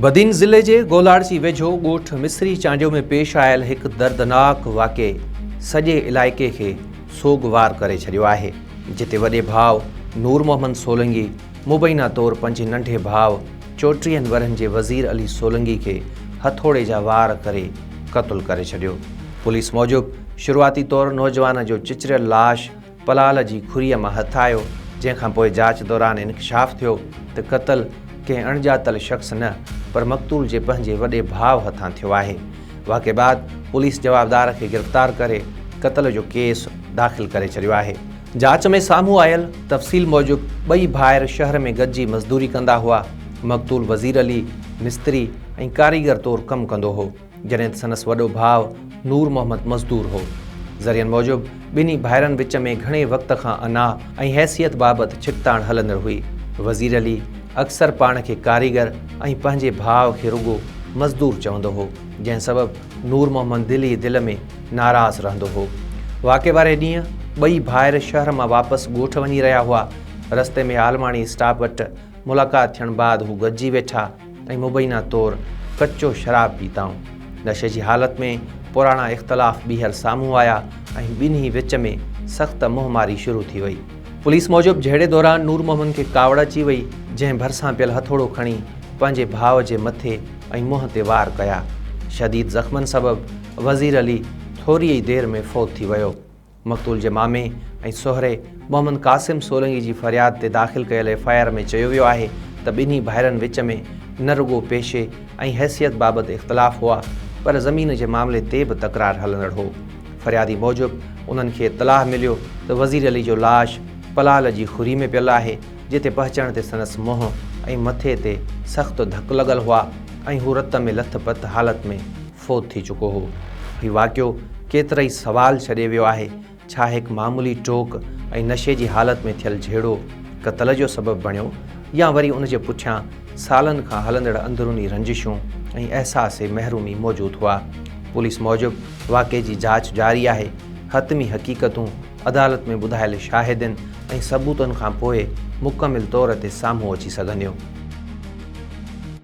بدين ضلعي جي گولاڙسي ويجهو ڳوٺ مصري چانڊيو ۾ پيش آيل هڪ دردناڪ واقعي سڄي علائقي کي سوڳوار ڪري ڇڏيو آهي جتي وڏي ڀاء نور محمد سولنگي مبينا طور پنهنجي ننڍي ڀاء چوٽيهن ورهن جي وزير علي سولنگي کي هٿوڙي جا وار ڪري قتل ڪري ڇڏيو پوليس موجب شروعاتي طور نوجوان جو چچريل لاش پلال جي کھريء مان ھٿ آيو، جنھن کان پوء جاچ دوران انڪشاف ٿيو ته قتل ڪنھن اڻڄاتل شخص نه پر مقتول جي پنھنجي وڏي ڀاء ھٿان ٿيو آھي. واقعي بعد پوليس جوابدار کي گرفتار ڪري قتل جو ڪيس داخل ڪري ڇڏيو آھي. جاچ ۾ سامھون آيل تفصيل موجب ٻئي ڀائر شھر ۾ گڏجي مزدوري ڪندا ھئا، مقتول وزير علي مستري ۽ ڪاريگر طور ڪم ڪندو ھو. جڏهن ته سندس وڏو ڀاء نور محمد مزدور هو. ذريعن موجب ٻنهي ڀائرن وچ ۾ گهڻي وقت کان انا ۽ حيثيت بابت ڇڪتاڻ هلندڙ هئي. وزير علي اڪثر پاڻ کي ڪاريگر ۽ پنهنجي ڀاء کي رڳو مزدور چوندو هو، جنهن سبب نور محمد دل ئي دل ۾ ناراض رهندو هو. واقعي واري ڏينهن ٻئي ڀائر شهر مان واپس ڳوٺ وڃي رهيا هئا. رستي ۾ عالماڻي اسٽاپ وٽ ملاقات ٿيڻ بعد هو گڏجي ويٺا. ۽ مبينا طور ڪچو شراب پيتائون. نشي جي حالت ۾ پراڻا اختلاف ٻيهر سامهون آيا ۽ ٻنهي وچ ۾ سخت منهن ماري شروع ٿي وئي. پوليس موجب جهيڙي دوران نور محمد کي ڪاوڙ اچي وئي جنهن ڀرسان پيل هٿوڙو کڻي پنهنجي ڀاء جي مٿي ۽ منهن تي وار ڪيا. شديد زخمن سبب وزير علي ٿوريئي دير ۾ فوت ٿي ويو. مقتول جي مامي ۽ سهري محمد قاسم سولنگي جي فرياد تي داخل ڪيل ايف آء آر ۾ چيو ويو آهي ته ٻنهي ڀائرن وچ ۾ نه رڳو پيشي ۽ حيثيت بابت اختلاف هئا پر زمين جي معاملي تي به تڪرار هلندڙ هو. فريادي موجب انهن کي اطلاع مليو ته وزير علي جو لاش پلال جي خري ۾ پيل آهي جتي پهچڻ تي سندس منهن ۽ مٿي تي سخت ڌڪ لڳل هئا ۽ هو رت ۾ لٿ پٿ حالت ۾ فوت ٿي چڪو هو. هي واقعو ڪيترائي سوال ڇڏي ويو آهي، ڇا هڪ معمولي ٽوڪ ۽ نشي جي حالت ۾ ٿيل جهيڙو قتل جو سبب بڻيو يا وري ان جي پٺيان سالن کان هلندڙ اندروني رنجشون ۽ احساس محرومي موجود هئا. پوليس موجب واقعي جي جاچ جاري آهي، حتمي حقيقتون عدالت ۾ ٻڌايل شاهدين ۽ ثبوتن کان پوء مڪمل طور تي سامهون اچي سگهنديون.